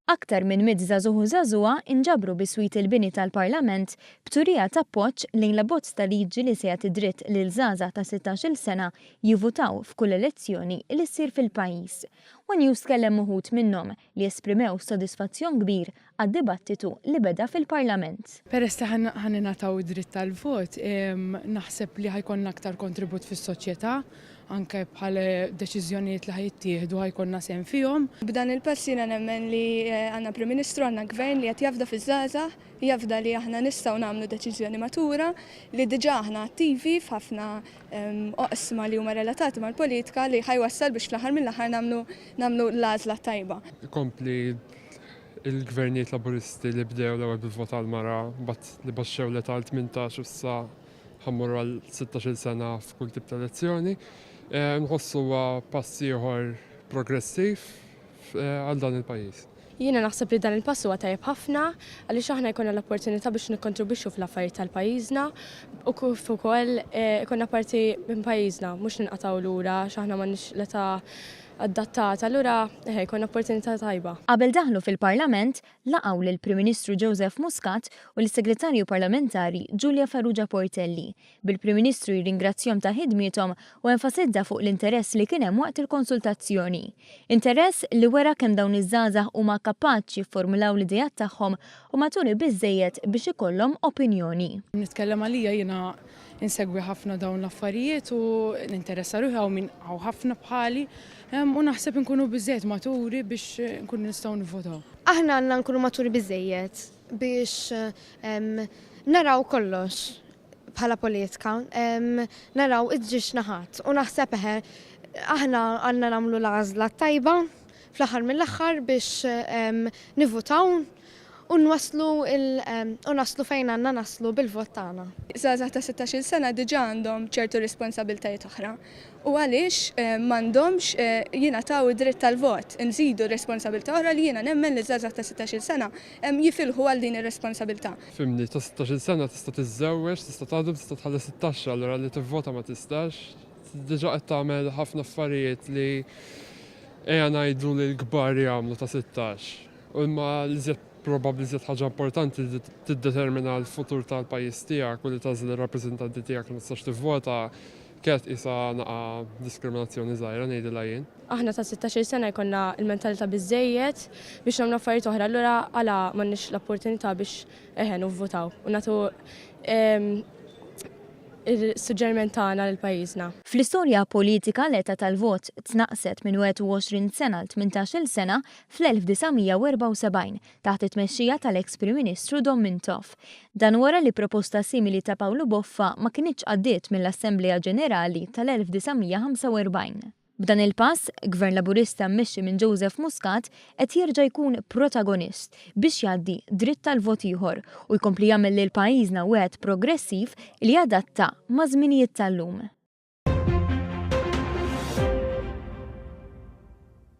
Aktar minn mitt żagħżugħ u żagħżugħa nġabru bi sweet il-bini tal-Parlament b'turija t'appoġġ lejn l-abbozz ta' liġi li se jagħti dritt lil żgħażagħ ta' sittax-il sena jivutaw f'kull elezzjoni li ssir fil-pajjiż. One News kellem uħud minnhom. li esprimew sodisfazzjon kbir għad-dibattitu li beda fil-Parlament. Peress li ħa ningħataw id-dritt tal-vot, naħseb li ħa jkollna aktar kontribut fis-soċjetà, anke bħal deċiżjonijiet li ħa jittieħdu ħa jkollna sehem fihom. B'dan il-pass jiena nemmen li għandna Prim Ministru, għandna Gvern li qed jafda fiż-żgħażagħ Jafda li aħna nistgħu nagħmlu deċiżjoni matura, li diġà aħna attivi f'ħafna oqsma li huma relatati mal-politika li ħa jwassal biex fl-aħħar mill-aħħar nagħmlu nagħmlu l-għażla t-tajba. Ikompli Il-Gvernijiet Laburisti li bdew l-ewwel bil-vot għall-mara, mbagħad li baxxew l-età għal tmintax u issa ħa mmorru għal sittax-il sena f'kull tip ta' elezzjoni, nħossu huwa pass ieħor progressiv għal dan il-pajjiż. Jiena naħseb li dan il-pass huwa tajjeb ħafna għaliex aħna jkollna l-opportunità biex nikkontribwixxu fl-affarijiet tal-pajjiżna u kif ukoll ikollna parti minn pajjiżna mhux ninqatgħu lura għax aħna m'għandniex l-età adattata allura eħe jkollna opportunità tajba. Qabel daħlu fil-Parlament, laqgħu lill-Prim Ministru Joseph Muscat u lis-Segretarju Parlamentari Julia Farrugia Portelli bil-Prim Ministru jirringrazzjahom ta' ħidmiethom u enfasizza fuq l-interess li kien hemm waqt il-konsultazzjoni. Interess li wera kemm dawn iż-żgħażagħ huma kapaċi jifformulaw l-ideat tagħhom u maturi biżżejjed biex ikollhom opinjoni. Nitkellem għalija, jiena insegwi ħafna dawn l-affarijiet u ninteressa ruħi, hawn min hawn ħafna bħali, u naħseb inkunu biżżejjed maturi biex inkunu nistgħu nivvotaw. Aħna għandna nkunu maturi biżżejjed biex naraw kollox. bħala politika naraw iż-żġieġ naħat u naħseb eħe aħna għandna nagħmlu l-għażla t-tajba fl-aħħar mill-aħħar biex nivvutaw u nwasslu u naslu fejn għandna naslu bil-vot tagħna. Żgħażagħ ta' sittax-il sena diġà għandhom ċertu responsabbiltajiet oħra u għaliex m'għandhomx jingħataw id-dritt tal-vot? Inżidu responsabbiltà oħra li jiena nemmen li ż-żgħażagħ ta' sittax-il sena jifilħu għal din ir-responsabbiltà. Fimni, ta' sittax-il sena tista' tiżżewweġ, tista' taħdem, tista' tħallas it-taxxa, allura li tivvota ma tistax? Diġà qed tagħmel ħafna affarijiet li ejja ngħidu li l-kbar jagħmlu ta' sittax. U imma l-iżjed probabbli l-iżjed ħaġa importanti li tiddetermina l-futur tal-pajjiż tiegħek u li tagħżel ir-rappreżentanti tiegħek ma tistax tivvota Kienet tqisha naqgħa diskriminazzjoni żgħira ngħidilha jien. Aħna ta' sittax-il sena jkollna l-mentalità biżżejjed biex nagħmlu affarijiet oħra allura għala m'għandniex l-opportunità biex eħe nivvutaw u nagħtu s-suġġeriment tagħna lil pajjiżna. Fl-istorja politika l-età tal-vot tnaqqset minn 21 sena għal tmintax-il sena fl-1974 taħt it-tmexxija tal-eks Prim Ministru Dom Mintoff. Dan wara li proposta simili ta' Pawlu Boffa ma kinitx għaddiet mill-Assemblea Ġenerali tal-1945. B'dan il-pass, Gvern Laburista mmexxi minn Joseph Muscat qed jerġa' jkun protagonist biex jgħaddi dritt tal-vot ieħor u jkompli jagħmel lil pajjiżna wieħed progressiv li jadatta maż-żminijiet tal-lum.